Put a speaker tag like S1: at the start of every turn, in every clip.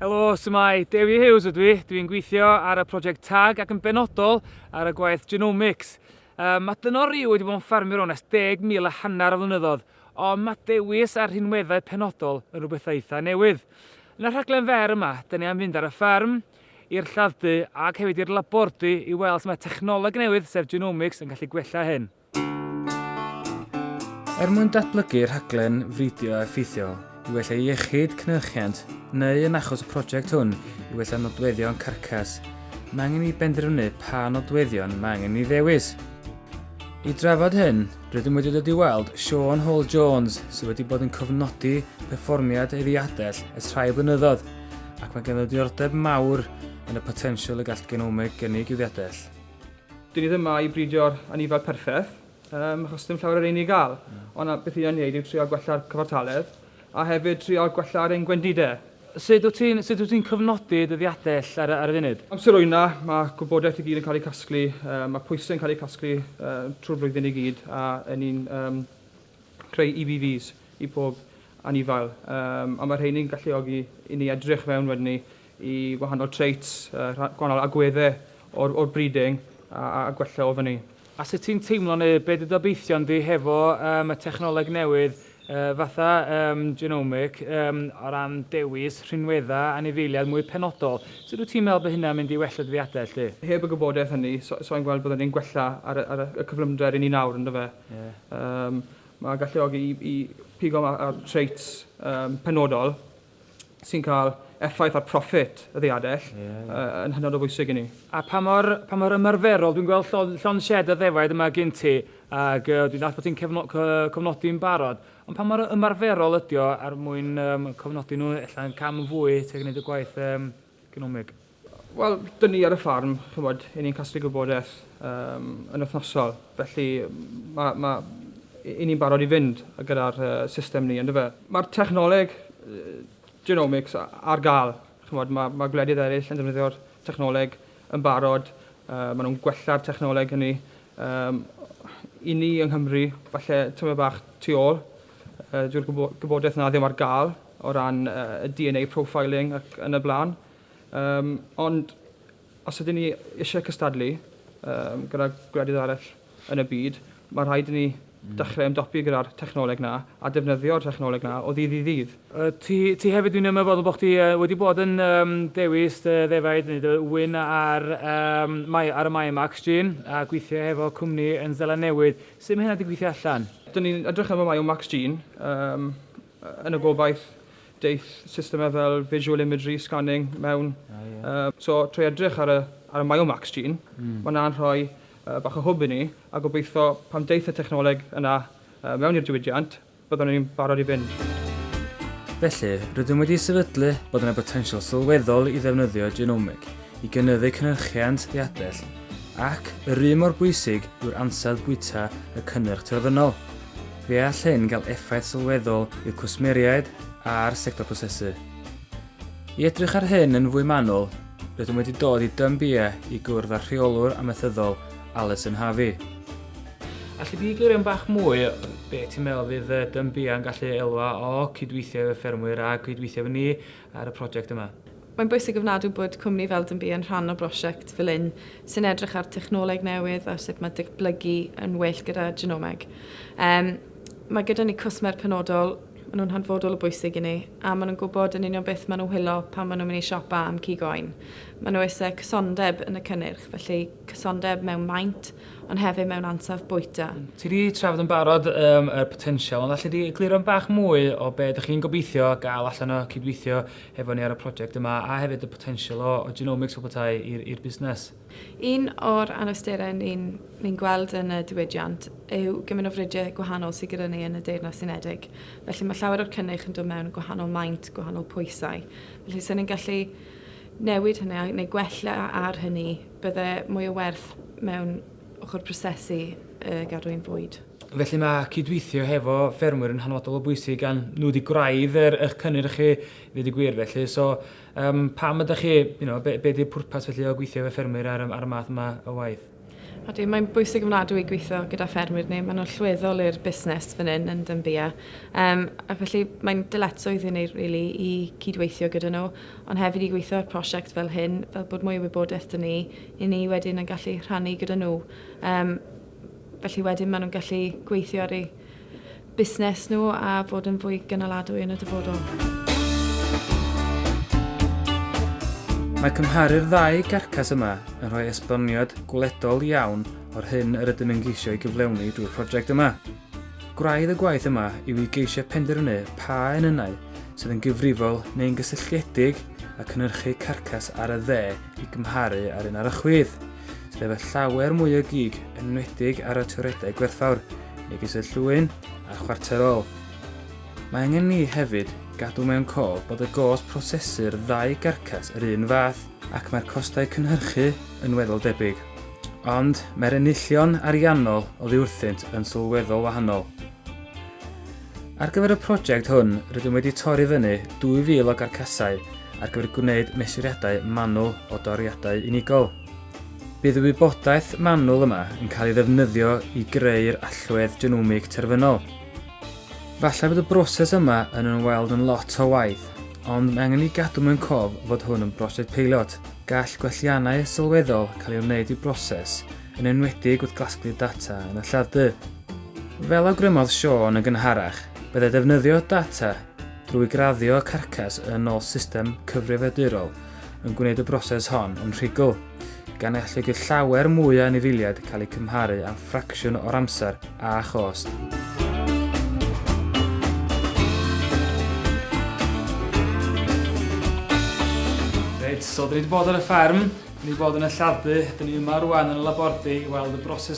S1: Helo, symau Dewi Hughes ydw i. Dwi'n gweithio ar y prosiect TAG ac yn benodol ar y gwaith Genomics. Um, mae dynor i wedi bod yn ffarmio o'n es deg mil a hanner o flynyddoedd, ond mae dewis a'r rhinweddau penodol yn rhywbeth eitha newydd. Yn y rhaglen fer yma, dyn ni am fynd ar y ffarm, i'r lladd-dy ac hefyd i'r labordy i weld sut mae technoleg newydd sef genomics yn gallu gwella hyn. Er mwyn datblygu rhaglen fridio effeithiol i wella iechyd cynhyrchiant neu yn achos y prosiect hwn i wella nodweddion carcas, mae angen i benderfynu pa nodweddion mae angen i ddewis. I drafod hyn, Rydym wedi dod i weld Siôn Hall Jones sydd wedi bod yn cofnodi perfformiad ei ddiadell ers rhai blynyddoedd ac mae ganddo diordeb mawr yn y potensial y gall genomeg gynnig i'w ddiadell. Dyn ni ddim yma
S2: i bridio'r anifail perffaith, um, achos dim llawer ar ein i gael, mm. ond beth ni'n ei wneud yw trial gwella'r cyfartaledd, a hefyd trial gwella'r ein gwendidau. Sut wyt ti'n sut
S1: wyt ti'n cyfnodi dy ddiadell ar ar y funud? Amser wyna, mae
S2: gwybodaeth i gyd yn cael ei casglu, yy mae pwysau yn cael eu casglu yy trwy'r flwyddyn i gyd a yn ni'n yym creu EVVs i pob anifail yym a mae rheini'n galluogi i ni edrych mewn wedyn ni i wahanol traits yy rha- gwahanol agweddau o'r o'r breeding a a gwella o fyny. A sut ti'n teimlo
S1: neu be dy obeithion di hefo yym y technoleg newydd yy fatha yym genomic yym o ran dewis rhinwedda anifeiliaid mwy penodol? Sut wyt ti'n meddwl bod hynna'n mynd i wella dy ddiadell di? Heb y gwybodaeth hynny,
S2: so sai'n gweld bydden ni'n gwella ar y ar y cyflymder ry'n ni nawr yndyfe? Ie. Yym mae'n galluogi i i pigo ma- ar traits yym penodol sy'n cael effaith ar proffit y ddiadell yn hynod o bwysig i ni. A pa mor, pa
S1: mor ymarferol, dwi'n gweld llon, llon shed a ddefaid yma gyn ti, ac uh, dwi'n dall bod ti'n cefno, cofnodi'n barod, ond pa mor ymarferol ydy o ar mwyn um, cofnodi nhw, efallai'n cam yn fwy tuag yn y gwaith um, economeg. Wel,
S2: dyn ni ar y ffarm, chymod, i ni'n casglu gwybodaeth um, yn wythnosol, felly mae ma, i ni'n barod i fynd gyda'r uh, system ni, ynddo fe. Mae'r technoleg uh, genomics ar gael, chymod, mae, mae gwledydd eraill yn defnyddio'r technoleg yn barod, uh, maen nhw'n gwella'r technoleg hynny. Um, I ni yng Nghymru, falle tyma bach tu ôl, uh, dyw'r gwybodaeth na ddim ar gael, o ran y DNA profiling ac yn y blaen. Um, ond os ydyn ni eisiau cystadlu um, gyda gwledydd arall yn y byd, mae rhaid i ni hmm. dechrau ymdopi gyda'r technoleg na a defnyddio'r technoleg na o ddydd i ddydd. Uh, ti, ti hefyd
S1: dwi'n ymwybodol bod chdi uh, wedi bod yn um, dewis uh, ddefaid neu dy wyn ar, um, mae, ar y Mae Max Gene a gweithio hefo cwmni yn Zela Newydd. Sut mae hynna wedi gweithio allan? Dyn ni'n edrych am y
S2: Mae Max Gene um, yn y gobaith daeth systemau fel visual imagery scanning mewn. Oh, yeah. uh, so trwy edrych ar y, ar y Myomax gene, mm. mae yna'n rhoi uh, bach o hwb i ni, a gobeithio pan daeth y technoleg yna uh, mewn i'r diwydiant, byddwn ni'n barod i fynd.
S1: Felly, rydym wedi sefydlu bod yna botensial sylweddol i ddefnyddio genomig i gynyddu cynhyrchiant ddiadell, ac yr un mor bwysig yw'r ansawdd bwyta y cynnyrch terfynol. Fe all hyn gael effaith sylweddol i'r cwsmeriaid a'r sector prosesu. I edrych ar hyn yn fwy manwl, rydym wedi dod i Dun Bia i gwrdd â'r Rheolwr Amaethyddol, Alison Harvey. Alli di egluro bach mwy be ti'n meddwl fydd Dun Bia yn gallu elwa o cydweithio efo ffermwyr a cydweithio efo ni ar y prosiect yma. Mae'n bwysig ofnadw
S3: bod cwmni fel Dynbee yn rhan o brosiect fel hyn sy'n edrych ar technoleg newydd a sut mae datblygu yn well gyda genomeg. Um, mae gyda ni cwsmer penodol, maen nhw'n hanfodol o bwysig i ni, a maen nhw'n gwybod yn union beth maen nhw'n hwylo pan maen nhw'n mynd i siopa am cig oen. Maen nhw eisiau cysondeb yn y cynnyrch, felly cysondeb mewn maint, ond hefyd mewn ansawdd bwyta. Ti 'di trafod yn barod
S1: yym y potensial ond alle di egluro bach mwy o be' dych chi'n gobeithio ga'l allan o cydweithio hefo ni ar y project yma a hefyd y potensial o o genomics fel petai i'r i'r busnes? Un o'r
S3: anawsterau ni'n ni'n gweld yn y diwydiant yw gymaint o fridiau gwahanol sydd gyda ni yn y Deyrnas Unedig. Felly mae llawer o'r cynnyrch yn dod mewn yn gwahanol maint, gwahanol pwysau. Felly 'sen ni'n gallu newid hynny a neu gwella ar hynny Bydde mwy o werth mewn ochr prosesu y gadwyn fwyd. Felly mae
S1: cydweithio hefo ffermwyr yn hanfodol o bwysig gan nhw wedi gwraidd yr eich cynnyrch chi ddweud y gwir felly. So um, pam ydych chi, you know, be, be di'r pwrpas felly o gweithio efo ffermwyr ar, ar y math yma o waith? Ydy,
S3: mae'n bwysig ymladw i gweithio gyda ffermwyr neu mae'n allweddol i'r busnes fan hyn yn Dymbia. Um, ac felly mae'n dyletsoedd i ni really, i cydweithio gyda nhw. ond hefyd i gweithio ar prosiect fel hyn, fel bod mwy o wybodaeth 'da ni, i ni wedyn yn gallu rhannu gyda nhw. Um, felly wedyn maen nhw'n gallu gweithio ar ei busnes nhw a fod yn fwy gynaladwy yn y dyfodol.
S1: Mae cymharu'r ddau garcas yma yn rhoi esboniad gwledol iawn o'r hyn yr ydym yn geisio ei gyflewni drwy'r prosiect yma. Gwraidd y gwaith yma yw i geisio penderfynu pa enynnau sydd yn gyfrifol neu'n gysylltiedig â cynhyrchu carcas ar y dde i gymharu â'r un ar y chwith, sydd efo llawer mwy o gig yn enwedig ar y toiredau gwerthfawr, megis y llwyn a'r chwarterol. Mae angen ni hefyd gadw mewn cof bod y gost prosesu'r ddau garcas yr un fath. ac mae'r costau cynhyrchu yn weddol debyg, ond mae'r enillion ariannol oddi wrthynt yn sylweddol wahanol. Ar gyfer y prosiect hwn, rydym wedi torri fyny 2,000 o garcasau ar gyfer gwneud mesuriadau manwl o doriadau unigol. Bydd y wybodaeth manwl yma yn cael ei ddefnyddio i greu'r allwedd genomig terfynol. Falle bod y broses yma yn ymweld yn lot o waith, ond mae angen i gadw mewn cof fod hwn yn brosiect peilot. Gall gwelliannau sylweddol cael ei wneud i'r broses, yn enwedig wrth gasglu'r data yn y lladd-dy. Fel awgrymodd Siôn yn gynharach, byddai defnyddio data drwy graddio carcas yn ôl system cyfrifiadurol yn gwneud y broses hon yn rhugl, gan ei alluogi llawer mwy o anifeiliaid cael eu cymharu â'n ffracsiwn o'r amser a chost. Reit, so dyn ni wedi bod ar y fferm, dyn ni wedi bod yn y lladd-dy, dyn ni yma rwan yn y labordy i weld y broses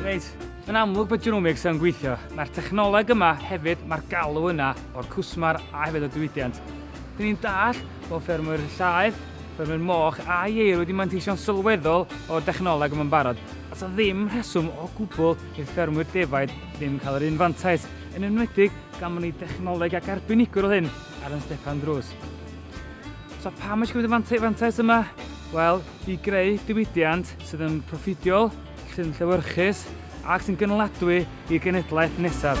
S1: Reit, yn amlwg bod Genomics yn gweithio. Mae'r technoleg yma hefyd, mae'r galw yna o'r cwsmar a hefyd y diwydiant. Dyn ni'n dall bod ffermwyr llaeth, ffermwyr moch a ieir wedi manteisio'n sylweddol o'r dechnoleg yma'n barod. A sa ddim rheswm o gwbl i'r ffermwyr defaid ddim cael yr un fantais, yn enwedig Gafon ni dechnoleg ac arbenigwr oedd hyn ar yn stepan drws. So pam eisiau gwneud y fantais yma? Wel, i greu diwydiant sydd yn proffidiol, sy'n llewyrchus ac sy'n gynaladwy i'r genedlaeth nesaf.